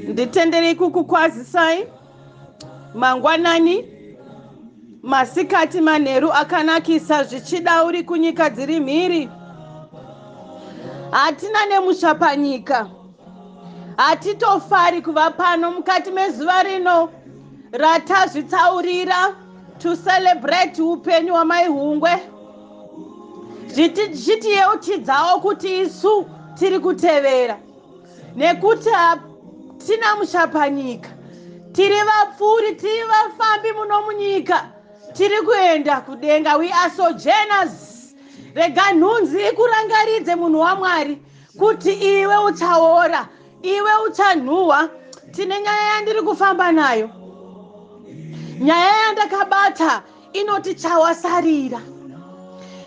nditenderei kukukwazisai mangwanani masikati manheru akanakisa zvichida uri kunyika dziri mhiri hatina nemusha panyika hatitofari kuva pano mukati mezuva rino ratazvitsaurira to celebrate upenyu hwamaihungwe zvitiyeuchidzawo kuti isu tiri kutevera nekuti hatina muchapanyika tiri vapfuuri tiri vafambi muno munyika tiri kuenda kudenga we are sojourners rega nhunzi ikurangaridze munhu wamwari kuti iwe uchaora iwe uchanhuhwa tine nyaya yandiri kufamba nayo nyaya yandakabata inoti chawasarira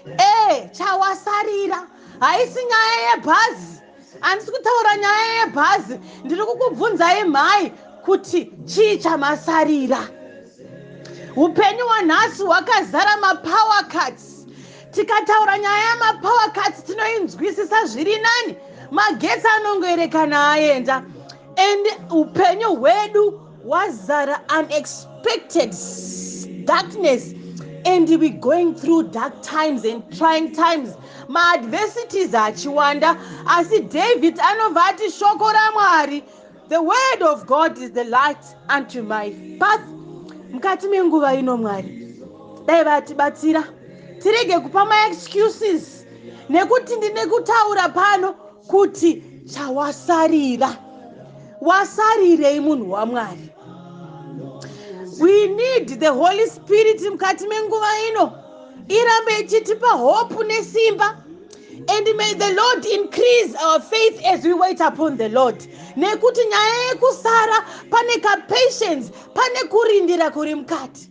e chawasarira haisi nyaya yebhazi handisi kutaura nyaya yebhazi ndiri kukubvunzai mhai kuti chii chamasarira upenyu hwanhasi hwakazara mapower cuts tikataura nyaya yamapower cuts tinoinzwisisa zviri nani magetsi anongoerekana aenda and upenyu hwedu Wazara unexpected darkness and we going through dark times and trying times maadversities achiwanda asi david anobva ati shoko ramwari the word of god is the light unto my path mukati menguva ino mwari dai vatibatsira tirege kupa maexcuses nekuti ndine kutaura pano kuti chawasarira wasarirei munhu wamwari we need the holy spirit mukati menguva ino irambe ichitipa hope nesimba and may the lord increase our faith as we wait upon the lord nekuti nyaya yekusara pane kapatience pane kurindira kuri mukati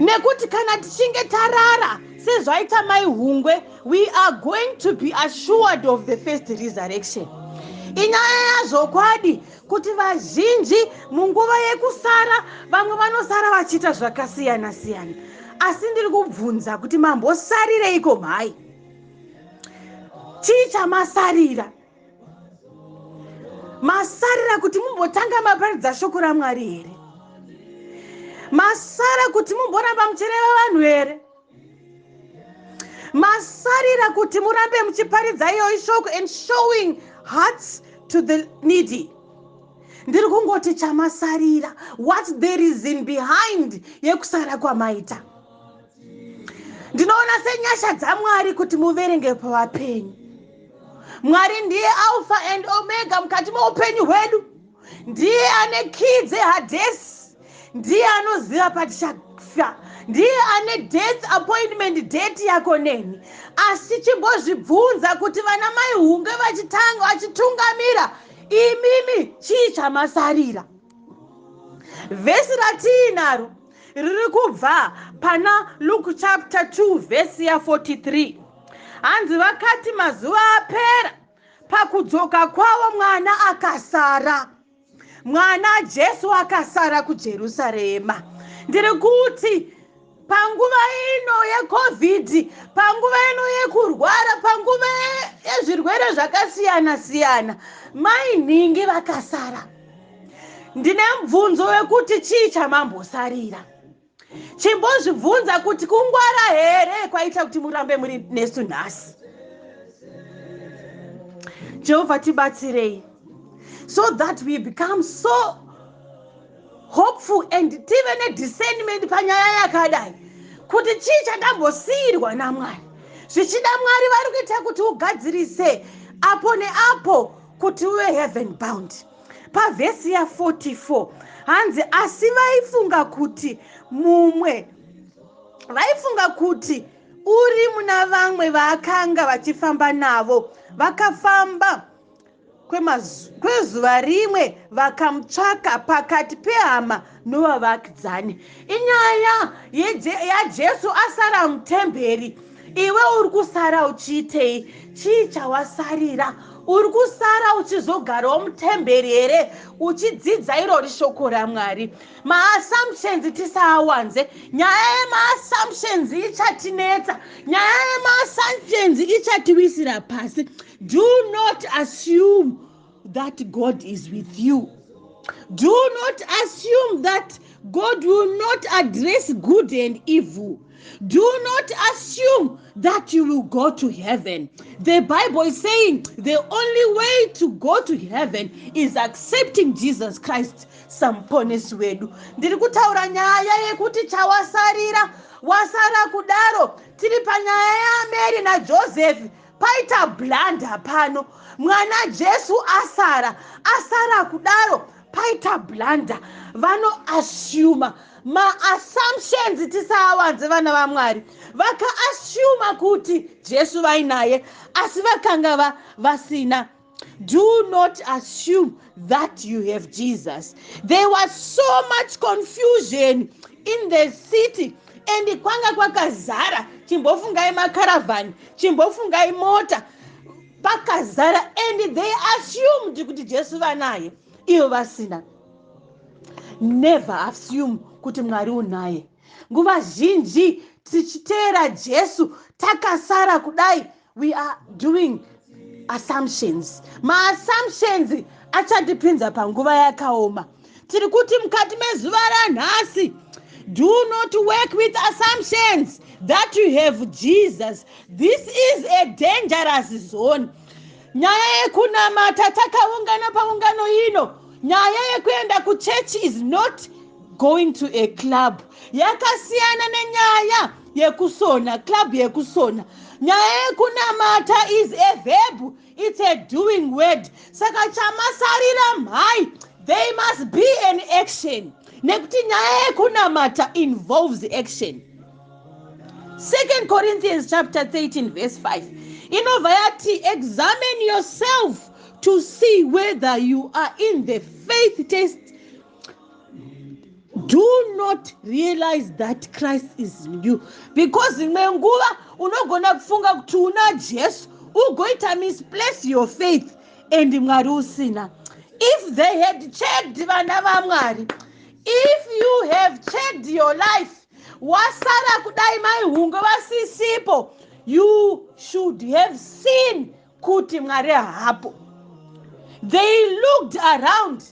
nekuti kana tichinge tarara sezvaita mai hungwe we are going to be assured of the first resurrection inyaya yazvokwadi kuti vazhinji munguva yekusara vamwe vanosara vachiita zvakasiyana siyana asi ndiri kubvunza kuti mambosarireiko mhai chii chamasarira masarira kuti mumbotanga maparidza shoko ramwari here masara kuti mumboramba muchireva vanhu here masarira kuti murambe muchiparidza iyoyi shoko and showing hearts to the needy ndiri kungoti chamasarira what there is in behind yekusara kwamaita ndinoona senyasha dzamwari kuti muverenge pavapenyu mwari ndiye alpha and omega mukati meupenyu hwedu ndiye ane kii dzehadhesi ndiye anoziva patichafa ndiye ane death appointment date yako neni asi chimbozvibvunza kuti vana mai hunge vachitanga vachitungamira imimi chii chamasarira vhesi ratiinaro riri kubva pana luke chapter 2 vhesi ya 43 hanzi vakati mazuva apera pakudzoka kwavo mwana akasara mwana jesu akasara kujerusarema ndiri kuti panguva ino yecovid panguva ino yekurwara panguva yezvirwere zvakasiyana siyana mai nhingi vakasara ndine mubvunzo wekuti chii chamambosarira chimbozvibvunza kuti kungwara here kwaita kuti murambe muri nesu nhasi jehovha tibatsirei so that we become so hopeful and tive nediscernment panyaya yakadai kuti chii chandambosiyirwa namwari zvichida mwari vari kuita kuti ugadzirise apo neapo kuti uve heaven bound pavhesi ya44 hanzi asi vaifunga kuti mumwe vaifunga kuti uri muna vamwe vaakanga vachifamba navo vakafamba kwezuva rimwe vakamutsvaka pakati pehama novavakidzani inyaya yajesu asara mutemberi iwe uri kusara uchiitei chii chawasarira uri kusara uchizogarawo mutemberi here uchidzidza irori shoko ramwari maassumptions tisaawanze nyaya yemaassumptions ichatinetsa nyaya yemaassumptions ichatiwisira pasi do not assume that god is with you do not assume that god will not address good and evil do not assume that you will go to heaven the bible is saying the only way to go to heaven is accepting jesus christ samuponesi wedu ndiri kutaura nyaya yekuti chawasarira wasara kudaro tiri panyaya yaameri najoseph Paita blunder pano. Mwana Jesu asara. Asara kudaro. Paita blunder. Vano assume ma assumptions tisaawanze vana vaMwari. Vaka assume kuti Jesu vainaye asi vakanga va, vasina. Do not assume that you have Jesus. There was so much confusion in the city and kwanga kwakazara chimbofungai makaravhani chimbofungai mota pakazara and they assumed kuti jesu vanaye ivo vasina never assume kuti mwari unaye nguva zhinji tichiteera jesu takasara kudai we are doing assumptions maassumptions achatipinza panguva yakaoma tiri kuti mukati mezuva ranhasi do not work with assumptions that you have jesus this is a dangerous zone nyaya yekunamata takaungana paungano ino nyaya yekuenda kuchechi is not going to a club yakasiyana nenyaya yekusona club yekusona nyaya yekunamata is a verb its a doing word saka chamasarira mhai they must be an action nekuti nyaya yekunamata involves action second corinthians chapter 13 verse 5 inobva yati examine yourself to see whether you are in the faith test do not realize that christ is in you because imwe nguva unogona kufunga kuti una jesu ugoita misplace your faith and mwari usina if they had checked vana vamwari if you have checked your life wasara kudai maihunge vasisipo you should have seen kuti mwari hapo they looked around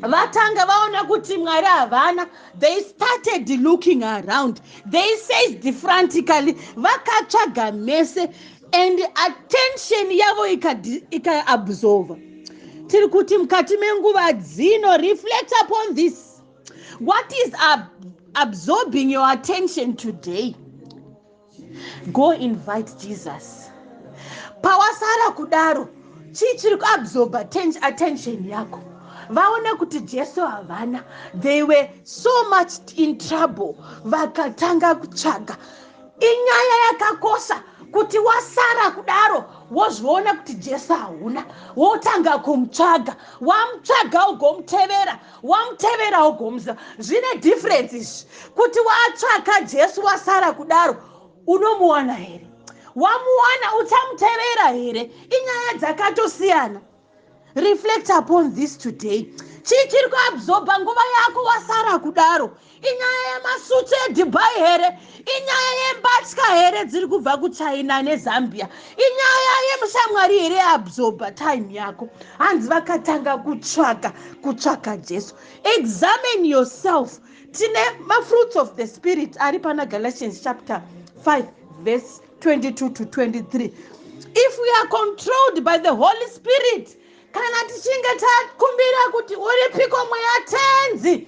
vatanga vaona kuti mwari havana they started looking around they said frantically vakatsvaga mese and attention yavo ikaabsorva ika tiri kuti mukati menguva dzino reflect upon this what is ab absorbing your attention today go invite jesus pawasara kudaro chii chiri kuabsorba attention yako vaona kuti jesu havana they were so much in trouble vakatanga kutsvaga inyaya yakakosha kuti wasara kudaro wozviona kuti jesu hauna wotanga kumutsvaga wamutsvaga ugomutevera wamuteverawo gomuza zvine difference izvi kuti watsvaka jesu wasara kudaro unomuwana here wamuwana uchamutevera here inyaya dzakatosiyana reflect upon this today chii chiri kuabsorba nguva yako wasara kudaro inyaya yemasutsu edhubai here inyaya yembatya here dziri kubva kuchina nezambia inyaya yemushamwari here absorba time yako hanzi vakatanga kutsvaka kutsvaka jesu examine yourself tine mafruits of the spirit ari pana galatians chapter 5 verse 22 to 23 if we are controlled by the holy spirit kana tichinge takumbira kuti uripiko mweya tenzi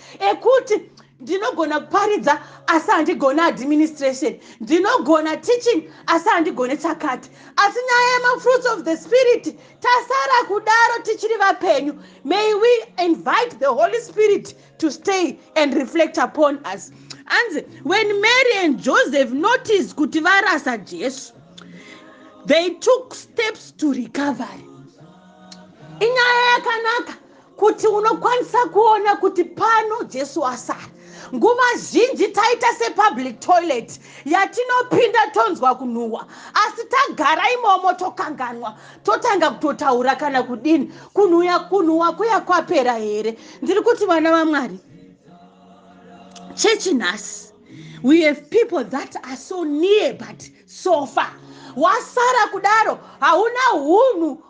ekuti ndinogona kuparidza asi handigone administration ndinogona teaching asi handigone chakati asi nyaya yemafruits of the spirit tasara kudaro tichiri vapenyu may we invite the holy spirit to stay and reflect upon us anzi when mary and joseph notice kuti varasa jesu they took steps to recovery inyaya yakanaka kuti unokwanisa kuona kuti pano jesu asara nguva zhinji taita sepublic toilet yatinopinda tonzwa kunhuhwa asi tagara imomo tokanganwa totanga kutotaura kana kudini kunhuya kunhuhwa kuya kwapera here ndiri kuti vana vamwari chechi nhasi we have people that are so near but so far wasara kudaro hauna unhu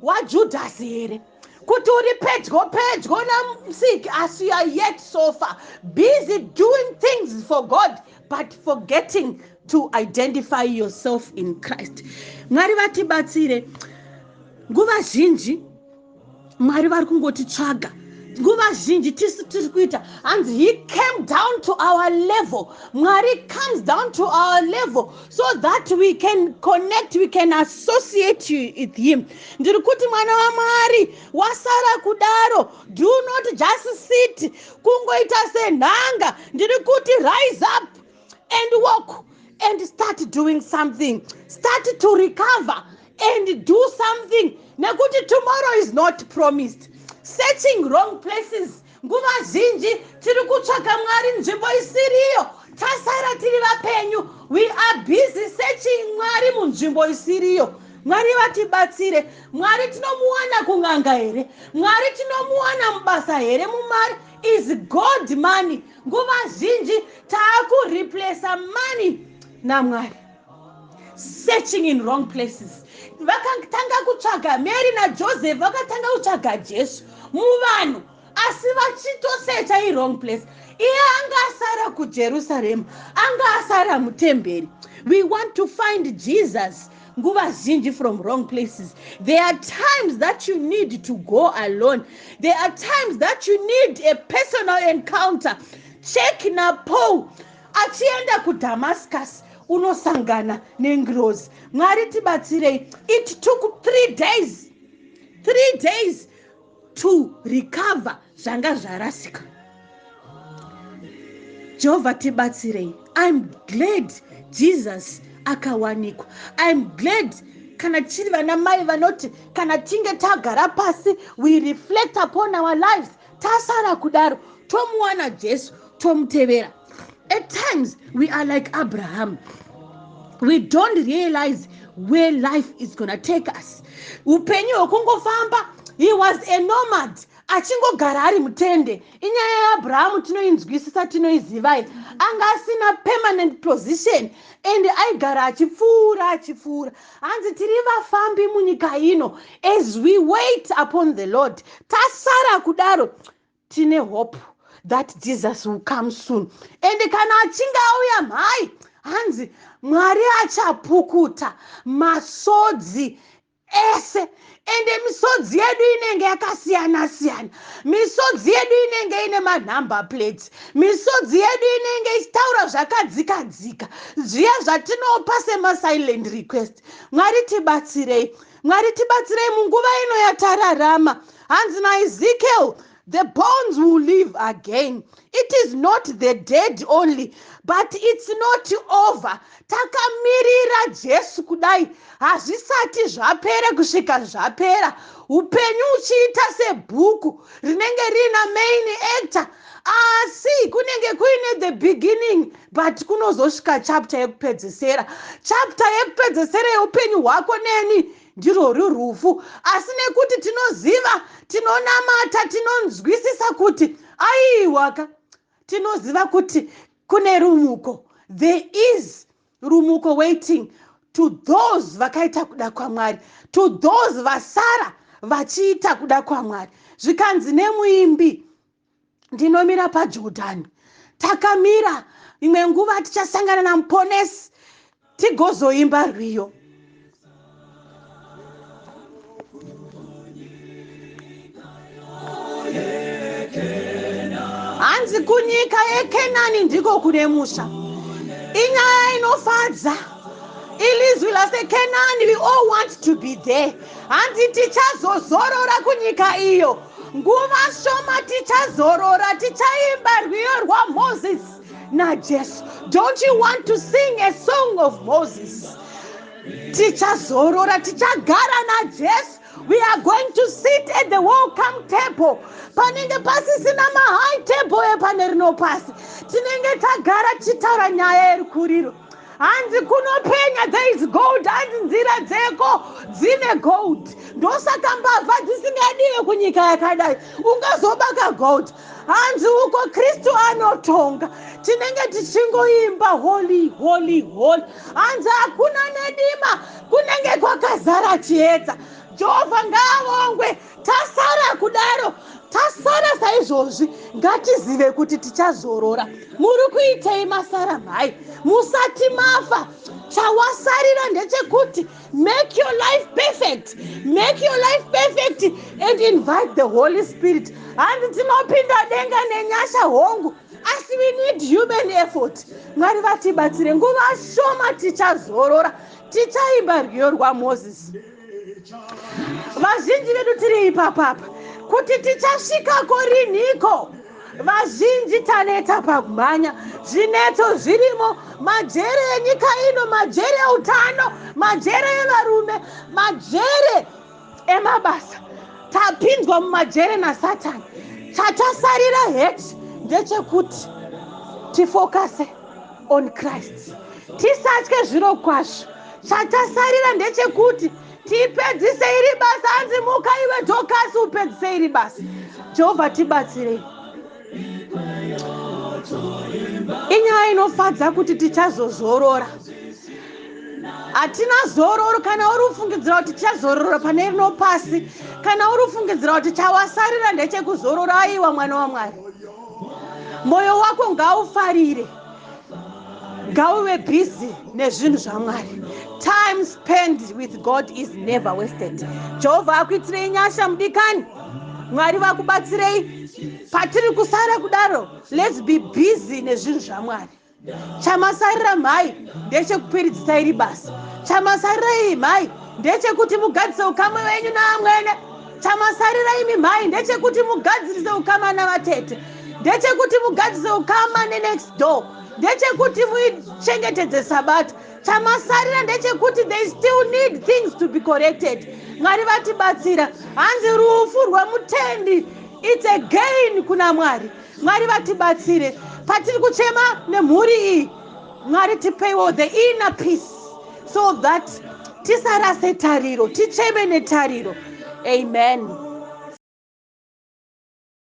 hwajudhasi here kuti uri pedyo pedyo namusiki asi youare yet sofa busy doing things for god but forgetting to identify yourself in christ mwari vatibatsire nguva zhinji mwari vari kungotitsvaga nguva zhinji tisu tiri kuita hanzi he came down to our level mwari comes down to our level so that we can connect we can associate you with him ndiri kuti mwana wamwari wasara kudaro do not just sit kungoita senhanga ndiri kuti rise up and walk and start doing something start to recover and do something nekuti tomorrow is not promised searching wrong places Nguva zhinji tiri kutsvaga Mwari nzvimbo isiriyo, tasara tiri vapenyu. We are busy searching Mwari munzvimbo isiriyo. Mwari vatibatsire. Mwari tinomuwana kun'anga here? Mwari tinomuwana mubasa here? Mumari is God money. Nguva zhinji taakureplacer money naMwari. searching in wrong places vakatanga kutsvaga mary najoseph vakatanga kutsvaga jesu muvanhu asi vachitosecha iwrong place iye anga asara kujerusarema anga asara mutemberi we want to find jesus nguva zhinji from wrong places there are times that you need to go alone there are times that you need a personal encounter check napaul Achienda kuDamascus unosangana nengirozi. Mwari tibatsirei. It took three days, three days to recover zvanga zvarasika. Jehovha tibatsirei. I'm glad Jesus akawanikwa. I'm glad kana tiri vana mai vanoti kana tinge tagara pasi we reflect upon our lives tasara kudaro tomuwana jesu tomutevera at times we are like abraham we don't realize where life is gonna take us upenyu hwekungofamba he was a nomad achingogara ari mutende inyaya yaabrahamu tinoinzwisisa tinoizivai anga asina permanent position and aigara achipfuura achipfuura Hanzi tiri vafambi munyika ino as we wait upon the Lord. Tasara kudaro tine hope that Jesus will come soon. And kana achinge auya mhai hanzi Mwari achapukuta masodzi ese ende misodzi yedu inenge yakasiyana siyana misodzi yedu inenge ine manumber plates misodzi yedu inenge ichitaura zvakadzika dzika zviya zvatinopa semasilent request mwari tibatsirei mwari tibatsirei munguva ino yatararama hanzi naizikel The bones will live again. It is not the dead only, but it's not over. Takamirira Jesu kudai hazvisati zvapera kusvika zvapera. Upenyu uchiita sebhuku rinenge riina main actor asi kunenge kuine the beginning but kunozosvika chapter yekupedzesera chapter yekupedzesera yeupenyu hwako neni Ndirworwo rufu. Asi nekuti tinoziva, tinonamata, tinonzwisisa kuti, aiwaka, tinoziva kuti kune rumuko. There is rumuko waiting to those vakaita kuda kwaMwari, to those vasara vachiita kuda kwaMwari. Zvikanzi nemuimbi, ndinomira pajordani takamira imwe nguva tichasangana namuponesi tigozoimba rwiyo hanzi kunyika yekenani ndiko kune musha inyaya inofadza ilizwi lasekenani we all want to be there hanzi tichazozorora kunyika iyo Nguva shoma tichazorora tichaimba rwiyo rwaMoses naJesu. Don't you want to sing a song of Moses? Tichazorora tichagara naJesu we are going to sit at the welcome table panenge pasisina mahigh table epane rino pasi tinenge tagara tichitaura nyaya yerikuriro hanzi kunopenya there is gold hanzi nzira dzeko dzine gold ndosaka mbavha dzisingadiwe kunyika yakadai ungazobaka gold hanzi uko kristu anotonga tinenge tichingoimba holy holy holy hanzi hakuna nedima kunenge kwakazara chiedza jehovha ngaavongwe Tasara kudaro, tasara saizvozvi, ngatizive kuti tichazorora. Muri kuitei masara mhai? Musati mafa, chawasarira ndechekuti make your life perfect, make your life perfect and invite the Holy Spirit. Hanzi tinopinda denga nenyasha hongu asi we need human effort mwari vatibatsire nguva shoma tichazorora tichaimba rwiyo rwamoses vazhinji vedu tiri ipapapa kuti tichasvikako rinhiko vazhinji taneta pakumhanya zvinetso zvirimo majere enyika ino majere eutano majere evarume majere emabasa tapinzwa mumajere nasatani chatasarira heti ndechekuti tifokase on christ tisatye zviro kwazvo chatasarira ndechekuti tipedzise iri basa hanzi muka iwe dhokasi upedzise iri basa jehovha tibatsirei inyaya inofadza kuti tichazozorora hatina zororo kana uri kufungidzira kuti tichazorora pane rino pasi kana uri kufungidzira kuti chawasarira ndechekuzorora aiwa mwana wamwari Moyo wako ngaufarire ngauve busy nezvinhu zvamwari time spend with god is never wasted jehovha akuitirei nyasha mudikani mwari vakubatsirei patiri kusara kudaro lets be busy nezvinhu zvamwari Chamasarira mhai ndechekuperidzisa iri basa. Chamasarira iyi mhai ndechekuti mugadzise ukamwe wenyu naamwene. Chamasarira imi mhai ndechekuti mugadzirise ukama navatete. Ndechekuti mugadzise ukama nenext door. Ndechekuti muichengetedze sabata. Chamasarira ndechekuti they still need things to be corrected. Mwari vatibatsira. Hanzi rufu rwemutendi it's a gain kuna Mwari. Mwari vatibatsire patiri kuchema nemhuri iyi Mwari tipeiwo the inner peace so that tisarase tariro ticheme netariro amen.